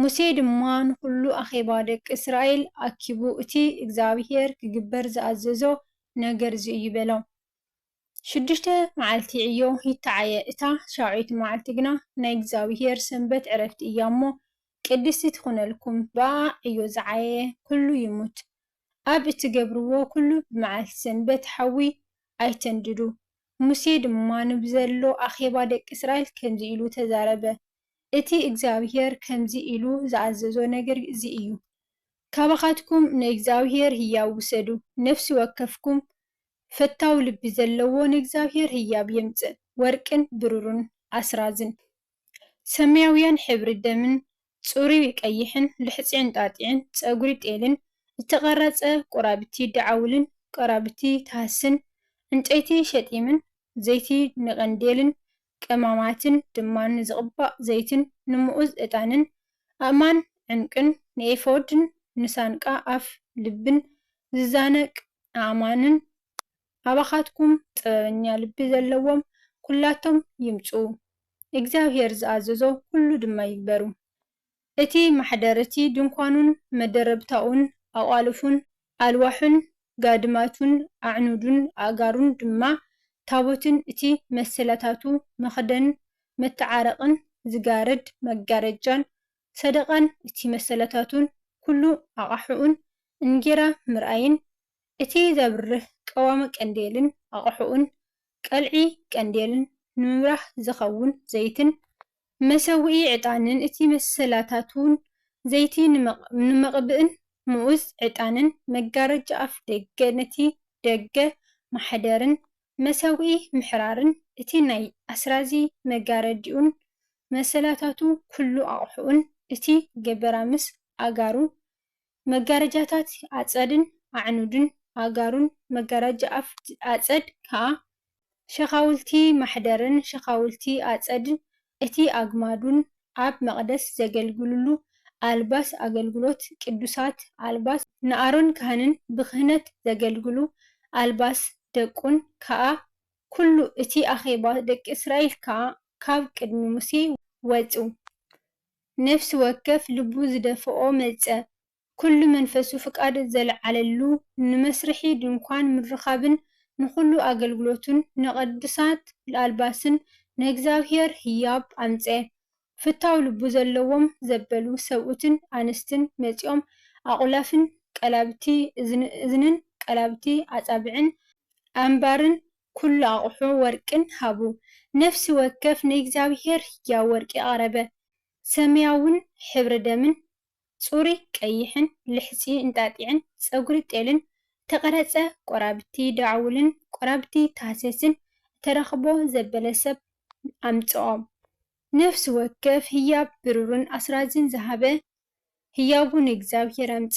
ሙሴ ድማ ንዅሉ ኣኼባ ደቂ እስራኤል ኣኪቡ፣ እቲ እግዚኣብሄር ኪግበር ዝኣዘዞ ነገር እዚ እዩ በሎም። ሽዱሽተ መዓልቲ ዕዮ ይተዓየ፣ እታ ሻውዐይቲ መዓልቲ ግና ናይ እግዚኣብሄር ሰንበት ዕረፍቲ እያ እሞ፣ ቅድስቲ ትኹነልኩም፣ ብኣኣ ዕዮ ዝዓየየ ኵሉ ይሙት። ኣብ እትገብርዎ ኵሉ ብመዓልቲ ሰንበት ሓዊ ኣይተንድዱ። ሙሴ ድማ ንብዘሎ ኣኼባ ደቂ እስራኤል ከምዚ ኢሉ ተዛረበ። እቲ እግዚኣብሄር ከምዚ ኢሉ ዝኣዘዞ ነገር እዚ እዩ፣ ካባኻትኩም ንእግዚኣብሄር ህያብ ውሰዱ፣ ነፍሲ ወከፍኩም ፈታው ልቢ ዘለዎ ንእግዚኣብሄር ህያብ የምጽእ፣ ወርቅን ብሩርን ኣስራዝን ሰማያውያን ሕብሪ ደምን ጽሩይ ቀይሕን ልሕጺ ዕንጣጢዕን ጸጕሪ ጤልን እተቘረጸ ቍራብቲ ደዓውልን ቍራብቲ ተሃስን ዕንጨይቲ ሸጢምን ዘይቲ ንቐንዴልን ቀማማትን ድማ ንዝቕባእ ዘይትን ንምኡዝ ዕጣንን፣ ኣእማን ዕንቊን፣ ንኤፎድን ንሳንቃ ኣፍ ልብን ዝዛነቅ ኣእማንን፣ ኣባኻትኩም ጥበበኛ ልቢ ዘለዎም ኵላቶም ይምጽኡ፣ እግዚኣብሄር ዝኣዘዞ ዅሉ ድማ ይግበሩ። እቲ ማሕደር እቲ ድንኳኑን መደረብታኡን ኣቛልፉን ኣልዋሑን ጋድማቱን ኣዕኑዱን ኣእጋሩን ድማ ታቦትን እቲ መሰላታቱ መኽደን መተዓረቕን ዝጋርድ መጋረጃን ሰደቓን እቲ መሰላታቱን ኩሉ ኣቓሑኡን እንጌራ ምርኣይን እቲ ዘብርህ ቀዋሚ ቀንዴልን ኣቓሑኡን ቀልዒ ቀንዴልን ንምብራህ ዚኸውን ዘይትን መሰውኢ ዕጣንን እቲ መሰላታቱን፣ ዘይቲ ንመቕብእን ምኡዝ ዕጣንን፣ መጋረጃ ኣፍ ደገ ነቲ ደገ ማሕደርን፣ መሰውኢ ምሕራርን፣ እቲ ናይ ኣስራዚ መጋረዲኡን መሰላታቱ ኩሉ ኣቕሑኡን፣ እቲ ገበራምስ ኣእጋሩ መጋረጃታት ኣጸድን ኣዕኑድን ኣእጋሩን መጋረጃ ኣፍቲ ኣጸድ ከኣ ሸኻውልቲ ማሕደርን ሸኻውልቲ ኣጸድን እቲ ኣግማዱን ኣብ መቕደስ ዘገልግሉሉ ኣልባስ ኣገልግሎት ቅዱሳት ኣልባስ ንኣሮን ካህንን ብክህነት ዘገልግሉ ኣልባስ ደቁን ከኣ ኩሉ እቲ ኣኼባ ደቂ እስራኤል ከኣ ካብ ቅድሚ ሙሴ ወጹ ነፍሲ ወከፍ ልቡ ዝደፍኦ መጸ፣ ኩሉ መንፈሱ ፍቃድ ዘልዓለሉ፣ ንመስርሒ ድንኳን ምርኻብን ንኹሉ ኣገልግሎቱን፣ ንቅድሳት ኣልባስን ንእግዚኣብሔር ህያብ ኣምጸ። ፍታው ልቡ ዘለዎም ዘበሉ ሰብኡትን ኣንስትን መጺኦም ኣቁላፍን ቀላብቲ እዝንን ቀላብቲ ኣጻብዕን ኣንባርን ኩሉ ኣቕሑ ወርቅን ሃቡ። ነፍሲ ወከፍ ንእግዚኣብሄር ህያው ወርቂ ኣቕረበ፣ ሰማያውን ሕብሪ ደምን፣ ጽሩይ ቀይሕን፣ ልሕጺ እንጣጢዕን፣ ጸጕሪ ጤልን፣ እተቐረጸ ቈራብቲ ዳዕውልን ቈራብቲ ታህሰስን እተረኽቦ ዘበለ ሰብ ኣምጽኦም። ነፍሲ ወከፍ ህያብ ብሩርን ኣስራዝን ዝሃበ ህያቡ ንእግዚኣብሄር ኣምጸ።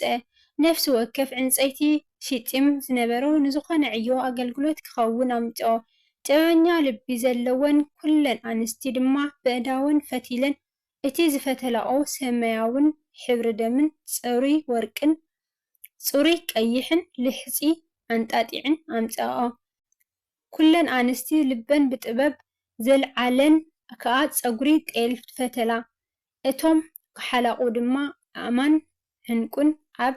ነፍሲ ወከፍ ዕንጸይቲ ሲጢም ዝነበሮ ንዝኾነ ዕዮ ኣገልግሎት ክኸውን ኣምጸኦ። ጥበበኛ ልቢ ዘለወን ኩለን ኣንስቲ ድማ በእዳወን ፈቲለን እቲ ዝፈተላኦ ሰማያውን ሕብሪ ደምን ጽሩይ ወርቅን ጽሩይ ቀይሕን ልሕጺ ኣንጣጢዕን ኣምጸኣኦ። ኩለን ኣንስቲ ልበን ብጥበብ ዘልዓለን ከኣ ጸጉሪ ጤል ፈተላ። እቶም ክሓላቑ ድማ ኣእማን ዕንቍን ኣብ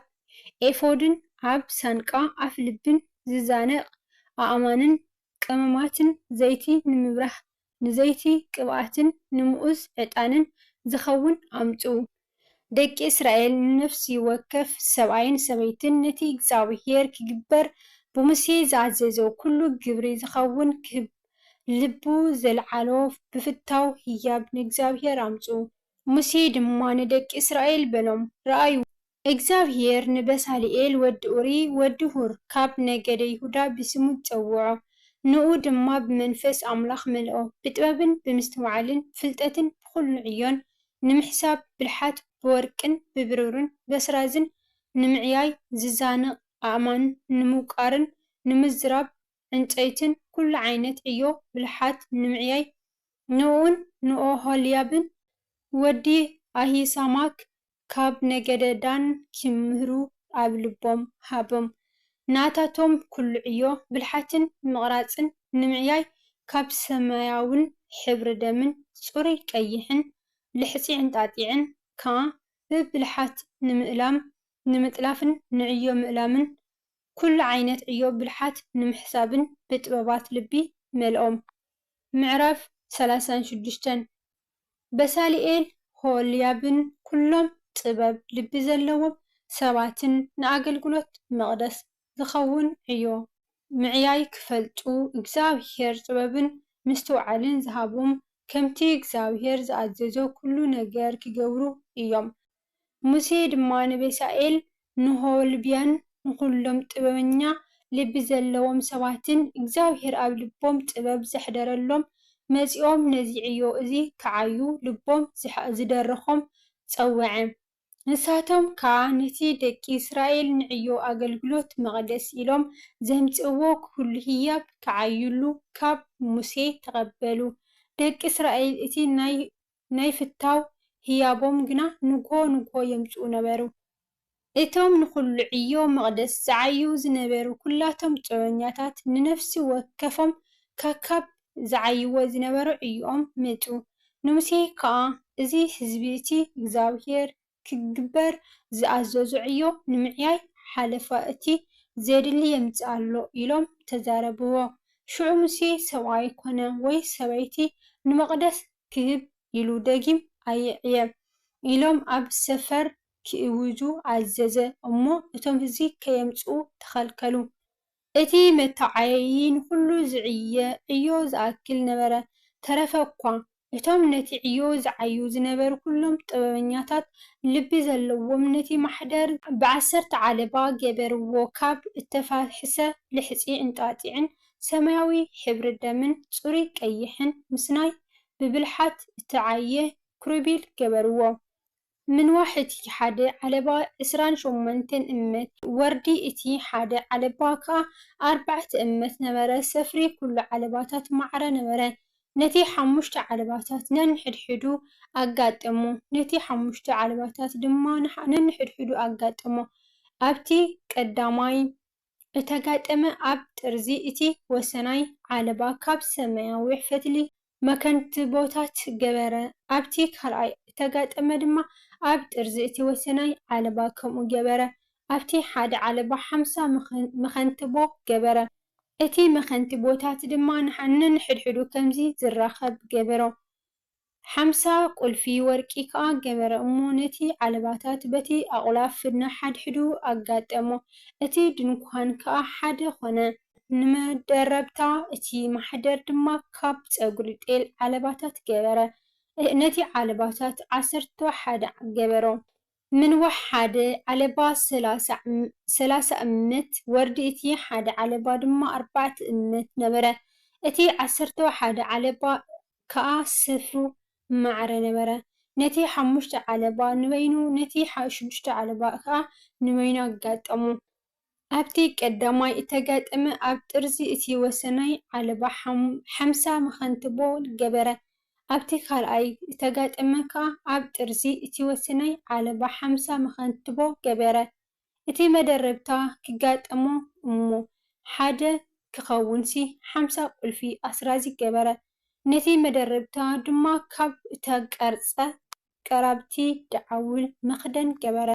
ኤፎድን ኣብ ሳንቃ ኣፍልብን ዚዛነቕ ኣእማንን ቀመማትን ዘይቲ ንምብራህ ንዘይቲ ቅብኣትን ንምኡዝ ዕጣንን ዚኸውን ኣምጽኡ። ደቂ እስራኤል ንነፍሲ ወከፍ ሰብኣይን ሰበይትን ነቲ እግዚኣብሄር ኪግበር ብሙሴ ዝኣዘዞ ዅሉ ግብሪ ዚኸውን ክህብ ልቡ ዘልዓሎ ብፍታው ህያብ ንእግዚኣብሄር ኣምጽኡ። ሙሴ ድማ ንደቂ እስራኤል በሎም፣ ርኣዩ! እግዚኣብሄር ንበሳልኤል ወዲ ኡሪ ወዲ ሁር ካብ ነገደ ይሁዳ ብስሙ ጸውዖ፣ ንኡ ድማ ብመንፈስ ኣምላኽ መልኦ፣ ብጥበብን ብምስትውዓልን ፍልጠትን ብኹሉ ዕዮን፣ ንምሕሳብ ብልሓት፣ ብወርቅን ብብሩርን በስራዝን፣ ንምዕያይ ዝዛነቕ ኣእማን፣ ንምውቃርን ንምዝራብ ዕንጸይትን ኩሉ ዓይነት ዕዮ ብልሓት ንምዕያይ፣ ንእኡን ንኦሆልያብን ወዲ ኣሂሳማክ ካብ ነገደ ዳን ኪምህሩ ኣብ ልቦም ሃቦም። ናታቶም ኩሉ ዕዮ ብልሓትን ምቕራጽን ንምዕያይ ካብ ሰማያውን ሕብሪ ደምን ጽሩይ ቀይሕን ልሕጺ ዕንጣጢዕን ከኣ ብብልሓት ንምእላም ንምጥላፍን ንዕዮ ምእላምን ኩሉ ዓይነት ዕዮ ብልሓት ንምሕሳብን ብጥበባት ልቢ መልኦም። ምዕራፍ ሰላሳን ሽዱሽተን፣ በሳልኤል ሆልያብን ኩሎም ጥበብ ልቢ ዘለዎም ሰባትን ንኣገልግሎት መቕደስ ዝኸውን ዕዮ ምዕያይ ክፈልጡ እግዚኣብሄር ጥበብን ምስትውዓልን ዝሃቦም ከምቲ እግዚኣብሄር ዝኣዘዞ ኩሉ ነገር ክገብሩ እዮም። ሙሴ ድማ ንቤሳኤል፣ ንሆልብያን ንዅሎም ጥበበኛ ልቢ ዘለዎም ሰባትን እግዚኣብሄር ኣብ ልቦም ጥበብ ዘሕደረሎም መጺኦም ነዚ ዕዮ እዚ ኺዓዩ ልቦም ዝደረኾም ጸውዐ። ንሳቶም ከኣ ነቲ ደቂ እስራኤል ንዕዮ ኣገልግሎት መቕደስ ኢሎም ዘምጽእዎ ኵሉ ህያብ ኪዓዩሉ ኻብ ሙሴ ተቐበሉ። ደቂ እስራኤል እቲ ናይ ናይ ፍታው ህያቦም ግና ንግሆ ንግሆ የምጽኡ ነበሩ። እቶም ንዅሉ ዕዮ መቕደስ ዝዓዩ ዝነበሩ ኵላቶም ጾረኛታት ንነፍሲ ወከፎም ከካብ ዝዓይዎ ዝነበሩ ዕዮኦም መጹ። ንሙሴ ከኣ እዚ ህዝቢ እቲ እግዚኣብሄር ክግበር ዝኣዘዞ ዕዮ ንምዕያይ ሓለፋ እቲ ዜድሊ የምጽእ ኣሎ ኢሎም ተዛረብዎ። ሽዑ ሙሴ ሰብኣይ ኰነ ወይ ሰበይቲ ንመቕደስ ክህብ ኢሉ ደጊም ኣይዕየ ኢሎም ኣብ ሰፈር ኪእውጁ ኣዘዘ እሞ እቶም ህዝቢ ከየምጽኡ ተኸልከሉ። እቲ መተዓየዪ ንዅሉ ዝዕየ ዕዮ ዝኣክል ነበረ፣ ተረፈ እኳ፣ እቶም ነቲ ዕዮ ዝዓዩ ዝነበሩ ኵሎም ጥበበኛታት ልቢ ዘለዎም ነቲ ማሕደር፣ ብዓሰርተ ዓለባ ገበርዎ፣ ካብ እተፋሕሰ ልሕጺ እንጣጢዕን ሰማያዊ ሕብሪ ደምን ጽሩይ ቀይሕን ምስናይ ብብልሓት እተዓየ ክሩቤል ገበርዎ፣ ምንዋሕ እቲ ሓደ ዓለባ ዕስራን ሾሞንተን እመት፣ ወርዲ እቲ ሓደ ዓለባ ከኣ ኣርባዕተ እመት ነበረ፣ ሰፍሪ ኩሉ ዓለባታት ማዕረ ነበረ። ነቲ ሓሙሽተ ዓለባታት ነንሕድሕዱ ኣጋጠሞ፣ ነቲ ሓሙሽተ ዓለባታት ድማ ነንሕድሕዱ ኣጋጠሞ፣ ኣብቲ ቀዳማይ እተጋጠመ ኣብ ጥርዚ እቲ ወሰናይ ዓለባ ካብ ሰማያዊ ፈትሊ መከንትቦታት ገበረ። ኣብቲ ካልኣይ እተጋጠመ ድማ ኣብ ጥርዚ እቲ ወሰናይ ዓለባ ከምኡ ገበረ። ኣብቲ ሓደ ዓለባ ሓምሳ መኸንትቦ ገበረ። እቲ መኸንትቦታት ድማ ነንሕድሕዱ ከምዚ ዚራኸብ ገበሮ። ሓምሳ ቍልፊ ወርቂ ከኣ ገበረ እሞ ነቲ ዓለባታት በቲ ኣቝላፍ ነሓድሕዱ ኣጋጠሞ፣ እቲ ድንኳን ከኣ ሓደ ዀነ። ንመደረብታ እቲ ማሕደር ድማ ካብ ጸጕሪ ጤል ዓለባታት ገበረ። ነቲ ዓለባታት ዓሰርተው ሓደ ገበሮ፣ ምንዋሕ ሓደ ዓለባ ሰላሳ እምት፣ ወርዲ እቲ ሓደ ዓለባ ድማ ኣርባዕተ እምት ነበረ። እቲ ዓሰርተው ሓደ ዓለባ ከኣ ስፍሩ ማዕረ ነበረ፣ ነቲ ሓሙሽተ ዓለባ ንበይኑ፣ ነቲ ሽዱሽተ ዓለባ ከኣ ንበይኑ ኣጋጠሞ። ኣብቲ ቀዳማይ እተጋጠመ ኣብ ጥርዚ እቲ ወሰናይ ዓለባ ሓምሳ መኸንትቦ ገበረ። ኣብቲ ካልኣይ እተጋጠመ ከኣ ኣብ ጥርዚ እቲ ወሰናይ ዓለባ ሓምሳ መኸንትቦ ገበረ። እቲ መደረብታ ኪጋጠሞ እሞ ሓደ ኪኸውንሲ ሓምሳ ቁልፊ ኣስራዚ ገበረ። ነቲ መደረብታ ድማ ካብ እተቀርጸ ቀራብቲ ደዓውል መኽደን ገበረ።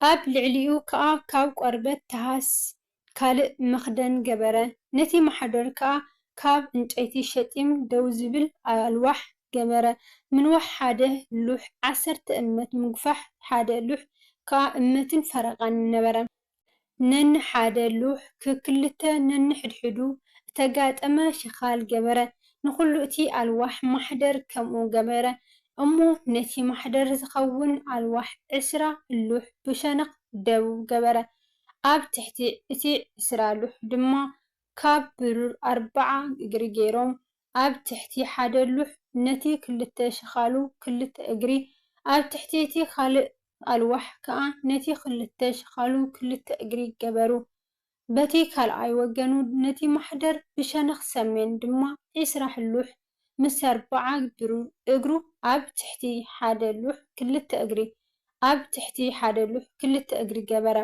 ኣብ ልዕሊኡ ከኣ ካብ ቆርበት ተሃስ ካልእ መኽደን ገበረ። ነቲ ማሕደር ከኣ ካብ ዕንጨይቲ ሸጢም ደው ዝብል ኣልዋሕ ገበረ። ምንዋሕ ሓደ ሉሕ ዓሰርተ እመት ምጉፋሕ ሓደ ሉሕ ከኣ እመትን ፈረቓን ነበረ። ነንሓደ ሉሕ ክክልተ ነንሕድሕዱ እተጋጠመ ሽኻል ገበረ፣ ንዅሉ'ቲ ኣልዋሕ ማሕደር ከምኡ ገበረ። እሞ ነቲ ማሕደር ዚኸውን ኣልዋሕ ዕስራ ሉሕ ብሸነኽ ደቡብ ገበረ፣ ኣብ ትሕቲ እቲ ዕስራ ሉሕ ድማ ካብ ብሩር ኣርብዓ እግሪ ገይሮም ኣብ ትሕቲ ሓደ ሉሕ ነቲ ክልተ ሽኻሉ ክልተ እግሪ ኣብ ትሕቲ እቲ ካልእ ኣልዋሕ ከኣ ነቲ ክልተ ሽኻሉ ክልተ እግሪ ገበሩ። በቲ ካልኣይ ወገኑ ነቲ ማሕደር ብሸነኽ ሰሜን ድማ ዕስራ ሕሉሕ ምስ ኣርብዓ እግሩ ኣብ ትሕቲ ሓደ ሉሕ ክልተ እግሪ ኣብ ትሕቲ ሓደ ሉሕ ክልተ እግሪ ገበረ።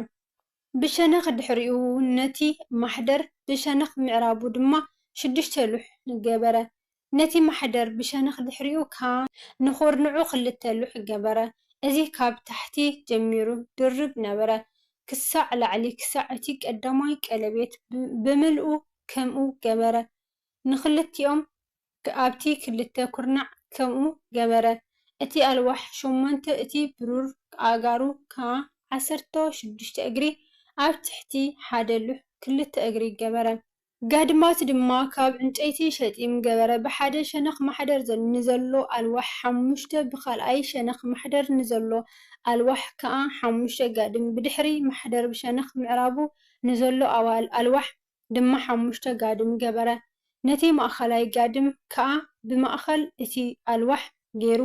ብሸነኽ ድሕሪኡ ነቲ ማሕደር ብሸነኽ ምዕራቡ ድማ ሽዱሽተ ሉሕ ገበረ። ነቲ ማሕደር ብሸነኽ ድሕሪኡ ከኣ ንኹርንዑ ክልተ ሉሕ ገበረ። እዚ ካብ ታሕቲ ጀሚሩ ድርብ ነበረ ክሳዕ ላዕሊ ክሳዕ እቲ ቀዳማይ ቀለቤት ብምልኡ ከምኡ ገበረ። ንኽልቲኦም ኣብቲ ክልተ ኵርናዕ ከምኡ ገበረ። እቲ ኣልዋሕ ሾሞንተ እቲ ብሩር ኣእጋሩ ከኣ ዓሰርተ ሽዱሽተ እግሪ ኣብ ትሕቲ ሓደ ሉሕ ክልተ እግሪ ገበረ። ጋድማት ድማ ካብ ዕንጨይቲ ሸጢም ገበረ፣ ብሓደ ሸነኽ ማሕደር ንዘሎ ኣልዋሕ ሓሙሽተ፣ ብኻልኣይ ሸነኽ ማሕደር ንዘሎ ኣልዋሕ ከኣ ሓሙሽተ ጋድም፣ ብድሕሪ ማሕደር ብሸነኽ ምዕራቡ ንዘሎ ኣልዋሕ ድማ ሓሙሽተ ጋድም ገበረ፣ ነቲ ማእከላይ ጋድም ከኣ ብማእከል እቲ ኣልዋሕ ገይሩ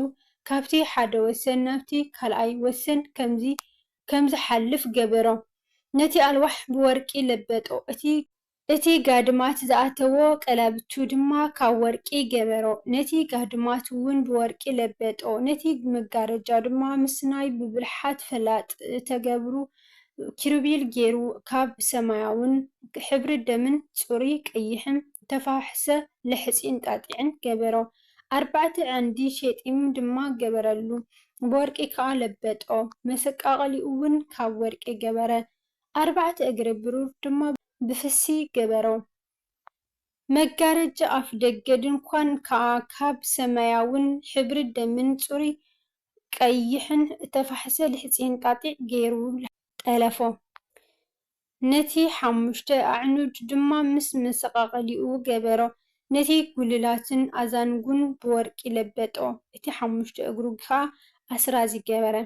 ካብቲ ሓደ ወሰን ናብቲ ካልኣይ ወሰን ከምዚ ከም ዝሓልፍ ገበሮ። ነቲ ኣልዋሕ ብወርቂ ለበጦ፣ እቲ። እቲ ጋድማት ዝኣተዎ ቀላብቱ ድማ ካብ ወርቂ ገበሮ፣ ነቲ ጋድማትውን ብወርቂ ለበጦ፣ ነቲ መጋረጃ ድማ ምስናይ ብብልሓት ፈላጥ ተገብሩ ኪሩቤል ገይሩ ካብ ሰማያውን ሕብሪ ደምን ጽሩይ ቀይሕን እተፈሓሕሰ ልሕጺን ጣጢዕን ገበሮ። ኣርባዕተ ዓንዲ ሼጢም ድማ ገበረሉ፣ ብወርቂ ከኣ ለበጦ፣ መሰቃቕሊኡውን ካብ ወርቂ ገበረ። ኣርባዕተ እግሪ ብሩር ድማ ብፍሲ ገበሮ። መጋረጃ ኣፍደገ ድንኳን ከኣ ካብ ሰማያውን ሕብሪ ደምን ጽሩይ ቀይሕን እተፋሕሰ ልሕጺ እንጣጢዕ ገይሩ ጠለፎ። ነቲ ሓሙሽተ ኣዕኑድ ድማ ምስ መሰቓቕሊኡ ገበሮ። ነቲ ጕልላቱን ኣዛንጉን ብወርቂ ለበጦ፣ እቲ ሓሙሽተ እግሩ ኸኣ ኣስራዚ ገበረ።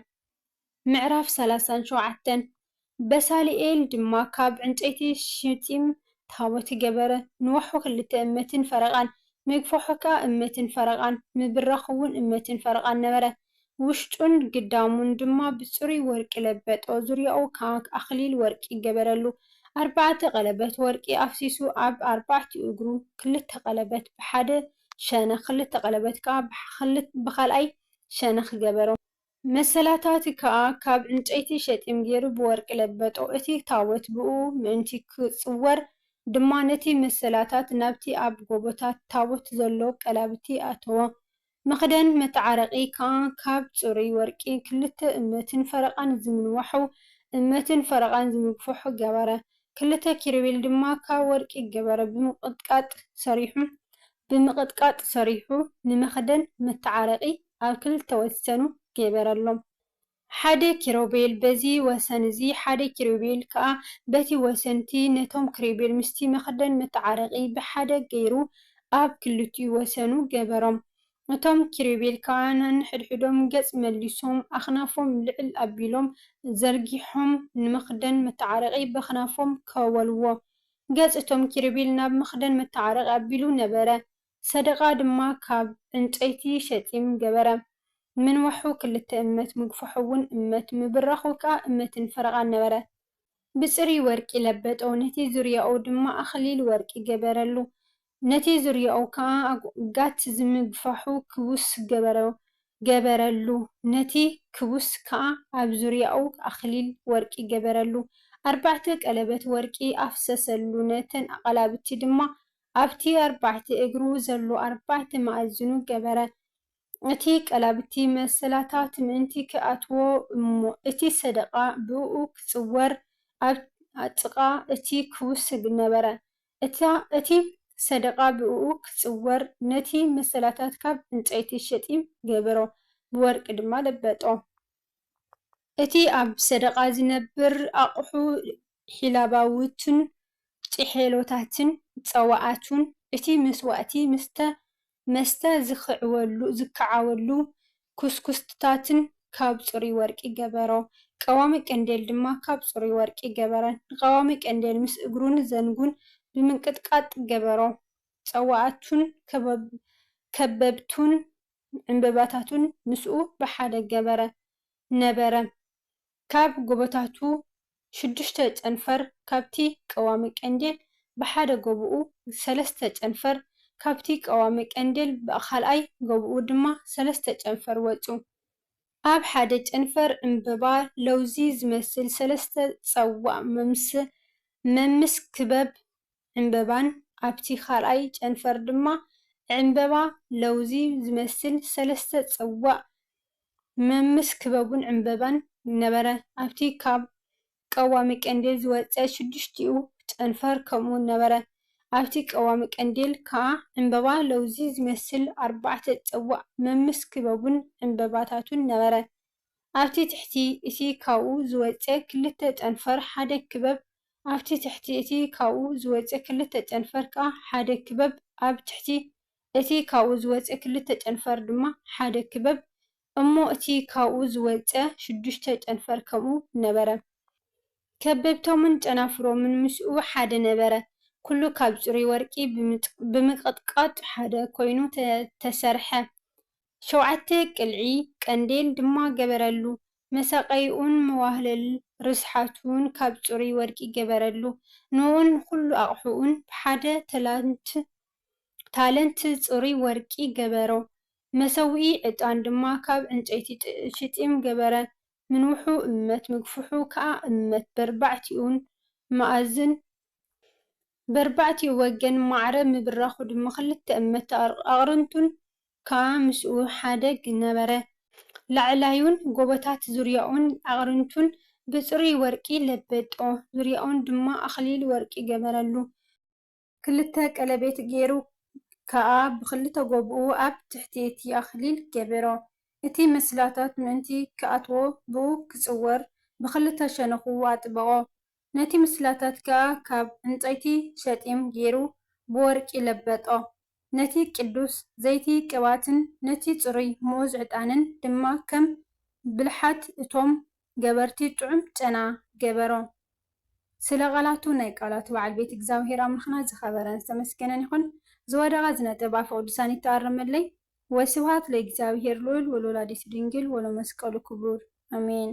ምዕራፍ ሰላሳን ሸውዓተን በሳልኤል ድማ ካብ ዕንጨይቲ ሺጢም ታቦት ገበረ፣ ንዋሑ ኽልተ እመትን ፈረቓን፣ ምግፋሑ ከኣ እመትን ፈረቓን፣ ምብራኹውን እመትን ፈረቓን ነበረ። ውሽጡን ግዳሙን ድማ ብጽሩይ ወርቂ ለበጦ፣ ዙርያኡ ኸኣ ኣኽሊል ወርቂ ገበረሉ። ኣርባዕተ ቐለበት ወርቂ ኣፍሲሱ ኣብ ኣርባዕቲኡ እግሩ፣ ኽልተ ቐለበት ብሓደ ሸነኽ፣ ኽልተ ቐለበት ከኣ ብኻልኣይ ሸነኽ ገበሮ። መሰላታቲ ከኣ ካብ ዕንጨይቲ ሸጢም ገይሩ ብወርቂ ለበጦ፣ እቲ ታቦት ብእኡ ምእንቲ ኪጽወር ድማ ነቲ መሰላታት ናብቲ ኣብ ጎቦታት ታቦት ዘሎ ቀላብቲ ኣእተዎ። መኽደን መተዓረቂ ከኣ ካብ ጽሩይ ወርቂ ክልተ እመትን ፈረቓን ዝምንዋሑ፣ እመትን ፈረቓን ዝምግፍሑ ገበረ። ክልተ ኪሩቤል ድማ ካብ ወርቂ ገበረ፣ ብምቕጥቃጥ ሰሪሑ ብምቕጥቃጥ ሰሪሑ ንመኽደን መተዓረቒ ኣብ ክልተ ወሰኑ ገበረሎም። ሓደ ኪሩቤል በዚ ወሰን እዚ፣ ሓደ ኪሩቤል ከኣ በቲ ወሰን እቲ፣ ነቶም ኪሩቤል ምስቲ መኽደን መተዓረቒ ብሓደ ገይሩ ኣብ ክልቲኡ ወሰኑ ገበሮም። እቶም ኪሩቤል ከኣ ነንሕድሕዶም ገጽ መሊሶም፣ ኣኽናፎም ልዕል ኣቢሎም ዘርጊሖም ንመኽደን መተዓረቒ በኽናፎም ከወልዎ ገጽ እቶም ኪሩቤል ናብ መኽደን መተዓረቂ ኣቢሉ ነበረ፣ ሰደቓ ድማ ካብ ዕንጨይቲ ሸጢም ገበረ፣ ምንዋሑ ክልተ እመት፣ ምግፋሑውን እመት፣ ምብራኹ ከኣ እመትን ፈረቓን ነበረ። ብጽሩይ ወርቂ ለበጦ፣ ነቲ ዙርያኡ ድማ ኣኽሊል ወርቂ ገበረሉ፣ ነቲ ዝርያኡ ከኣ ኣጕጋት ዝምግፋሑ ክቡስ ገበሮ ገበረሉ፣ ነቲ ክቡስ ከኣ ኣብ ዙርያኡ ኣኽሊል ወርቂ ገበረሉ፣ ኣርባዕተ ቀለበት ወርቂ ኣፍሰሰሉ፣ ነተን ኣቓላብቲ ድማ ኣብቲ ኣርባዕተ እግሩ ዘሎ ኣርባዕተ መኣዝኑ ገበረ፣ እቲ ቀላብቲ መሰላታት ምእንቲ ኺኣትዎ እሞ እቲ ሰደቓ ብእኡ ኺጽወር ኣብ ጥቓ እቲ ክቡስ ነበረ፣ እታ እቲ ሰደቓ ብእኡ ኪጽወር፣ ነቲ መሰላታት ካብ ዕንጸይቲ ሸጢም ገበሮ፣ ብወርቂ ድማ ለበጦ። እቲ ኣብ ሰደቓ ዚነብር ኣቕሑ ሒላባውቱን ጭሔሎታትን ጸዋኣቱን፣ እቲ መስዋእቲ ምስ መስተ ዝክዓወሉ ኩስኩስትታትን ካብ ጽሩይ ወርቂ ገበሮ። ቀዋሚ ቀንዴል ድማ ካብ ጽሩይ ወርቂ ገበረን። ንቐዋሚ ቀንዴል ምስ እግሩን ዘንጉን ብምንቅጥቃጥ ገበሮ። ጸዋኣቱን ከበብቱን ዕምበባታቱን ምስኡ ብሓደ ገበረ። ነበረ። ካብ ጎቦታቱ ሽዱሽተ ጨንፈር ካብቲ ቀዋሚ ቀንዴል ብሓደ ጎቦኡ ሰለስተ ጨንፈር ካብቲ ቀዋሚ ቀንዴል ብኻልኣይ ጎቦኡ ድማ ሰለስተ ጨንፈር ወጹ። ኣብ ሓደ ጨንፈር ዕምበባ ለውዚ ዝመስል ሰለስተ ጸዋእ መምስ መምስ ክበብ ዕምበባን ኣብቲ ካልኣይ ጨንፈር ድማ ዕምበባ ለውዚ ዝመስል ሰለስተ ጽዋእ መምስ ክበቡን ዕምበባን ነበረ። ኣብቲ ካብ ቀዋሚ ቀንዴል ዝወጸ ሽዱሽቲኡ ጨንፈር ከምኡ ነበረ። ኣብቲ ቀዋሚ ቀንዴል ከኣ ዕምበባ ለውዚ ዝመስል ኣርባዕተ ጽዋእ መምስ ክበቡን ዕምበባታቱን ነበረ። ኣብቲ ትሕቲ እቲ ካብኡ ዝወጸ ክልተ ጨንፈር ሓደ ክበብ ኣብቲ ትሕቲ እቲ ካብኡ ዝወጸ ክልተ ጨንፈር ከኣ ሓደ ክበብ ኣብ ትሕቲ እቲ ካብኡ ዝወጸ ክልተ ጨንፈር ድማ ሓደ ክበብ እሞ እቲ ካብኡ ዝወጸ ሽዱሽተ ጨንፈር ከምኡ ነበረ ከበብቶምን ጨናፍሮምን ምስኡ ሓደ ነበረ ኩሉ ካብ ጽሩይ ወርቂ ብምቅጥቃጥ ሓደ ኮይኑ ተሰርሐ ሸውዓተ ቅልዒ ቀንዴል ድማ ገበረሉ፣ መሳቐይኡን መዋህለል ርስሓቱን ካብ ጽሩይ ወርቂ ገበረሉ፣ ንኡን ንኹሉ ኣቕሑኡን ብሓደ ተላንት፣ ታለንት፣ ጽሩይ ወርቂ ገበሮ፣ መሰውኢ ዕጣን ድማ ካብ ዕንጨይቲ ሽጢም ገበረ፣ ምንውሑ እመት ምግፍሑ ከኣ እመት በርባዕቲኡን መኣዝን፣ በርባዕቲኡ ወገን ማዕረ ምብራኹ ድማ ክልተ እመት ኣቕርንቱን ከኣ ምስኡ ሓደግ ነበረ። ላዕላዩን ጎቦታት ዙርያኡን ኣቕርንቱን ብጽሩይ ወርቂ ለበጦ፣ ዙርያኡን ድማ ኣኽሊል ወርቂ ገበረሉ። ክልተ ቀለቤት ገይሩ ከኣ ብኽልተ ጎብኡ ኣብ ትሕቲ እቲ ኣኽሊል ገበሮ። እቲ ምስላታት ምእንቲ ክኣትዎ ብኡ ክጽወር ብኽልተ ሸነኹ ኣጥበቖ። ነቲ ምስላታት ከኣ ካብ ዕንጸይቲ ሸጢም ገይሩ ብወርቂ ለበጦ። ነቲ ቅዱስ ዘይቲ ቅብኣትን ነቲ ጽሩይ ምኡዝ ዕጣንን ድማ ከም ብልሓት እቶም ገበርቲ ጥዑም ጨና ገበሮ። ስለ ቃላቱ ናይ ቃላቱ በዓል ቤት እግዚኣብሄር ኣምላኽና ዝኸበረን ዝተመስገነን ይኹን። ዝወደቐ ዝነጥብ ኣፈ ቅዱሳን ይተኣረመለይ። ወስብሃት ለእግዚኣብሄር ልዑል ወለወላዲቱ ድንግል ወለመስቀሉ ክቡር። ኣሜን።